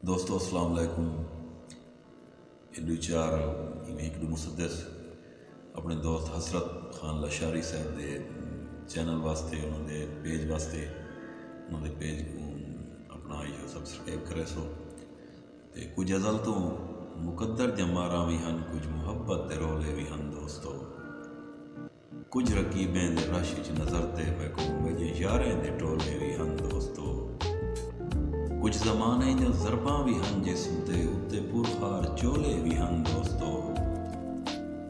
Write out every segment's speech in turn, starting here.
دوستو السلام علیکم اے ڈو چار ایویں ہک ڈو مسدس اپنے دوست حسرت خان لاشاری صاحب دے چینل واسطے انہوں دے پیج واسطے انہوں دے پیج کو اپنا آئیو سبسکرائب کرے سو تے کچھ ازل تو مقدر جمارہ بھی ہن کچھ محبت دے رولے بھی ہن دوستو کجھ رقیبیں دے رش اچ نظر تے میکوں میجے یاریں دے ٹولے وی ہن دوستو کجھ زمانے دیاں ضرباں وی ہن جسم تے اتے پرخار چولے وی ہن دوستو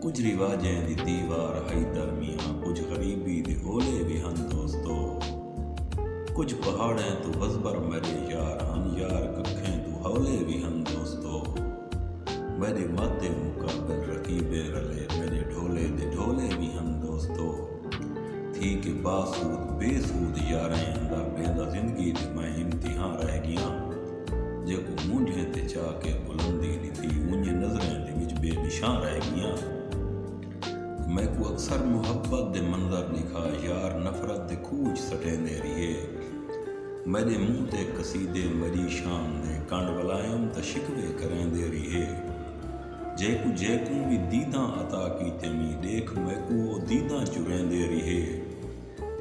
کجھ رواجیں دی دیوار ہئی درمیاں کجھ غریبی دے اولے وی ہن دوستو کجھ پہاڑیں توں وزبر میڈے یار ہن یار ککھیں توں ہولے وی ہن دوستو۔ میݙے مت دے مقابل رقیبے رلے میݙے ڈھولے دے ڈھولے وی ہن دوستو تھی کے باسود بے سود یاریں اندر بیندا زندگی دے میں امتحاں رہ گیاں جیکوں مونجھیں تے چا کے بلندی ݙتی اونجھے نظریں دے وچ بے نشاں رہ گیاں۔ میکوں اکثر محبت دے منظر ݙکھا یار نفرت دے کھوہ اچ سٹیندے ریہے میݙے منہ تے قصیدے میݙی شان دے کنڈ ولائم تاں شکوے کریندے ریہے جیکوں جیکوں وی دیداں عطا کیتے وی ݙیکھ میکوں او دیداں چریندے ریہے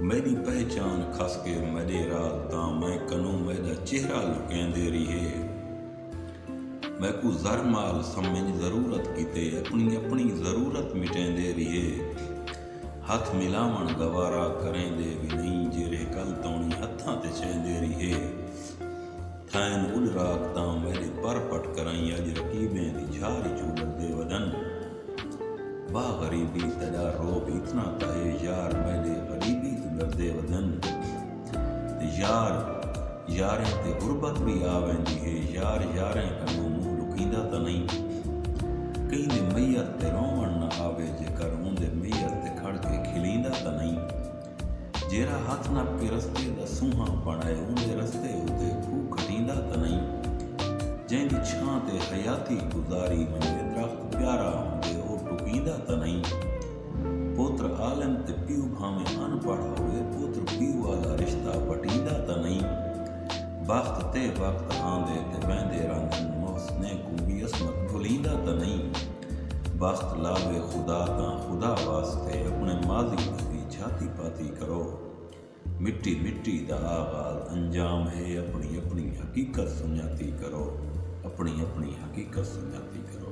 میݙی پہچان کھس کے میݙے راز تاں میں کنوں میݙا چہرہ لکیندے ریہے۔ میکوں زر مال سمنج ضرورت کیتے اپنی اپنی ضرورت مٹیندے ریہے ہتھ ملاوݨ گوارا کریندے وی نئیں جیرھے کل توݨی ہتھاں تے چیندے ریہے تھئن اڈ راک تاں میڈے پر پٹ کرائیں اج رقیبیں دی جھار اچوں ڈردے ودن واہ غریبی تیڈا روب اتنا تاں اے یار میڈے غریبی توں ڈردے ودن۔ یار یاریں تے غربت وی آ ویندی ہے یار یاریں کنوں منہ لکیندا تاں نئیں کہیں دے میت تے رووݨ نہ آوے جے کر اوندے میت تے کھڑ کے کھلیندا تاں نئیں جیرھا ہتھ نپ کے رستے دا سونہاں پݨ آئے اوندے رستے اتے کھو کھٹیندا تاں نئیں جیندی چھاں تے حیاتی گزاری ونڄے درخت پیارا ہوندے او ٹکیندا تاں نئیں۔ پوتر عالم تے پیو بھانویں ان پڑھ ہووے پوتر پیو آلا رشتہ وٹیندا تاں نئیں بخت تے وقت آندے تے ویندے رہندن محسنیں کوں وی عصمت بھلیندا تاں نئیں بخت لاوے خدا تاں خدا واسطے اپنے ماضی دی وی جھاتی پاتی کرو مٹی مٹی دا آغاز انجام ہے اپنی اپنی حقیقت سنجاتی کرو اپنی اپنی حقیقت سنجاتی کرو۔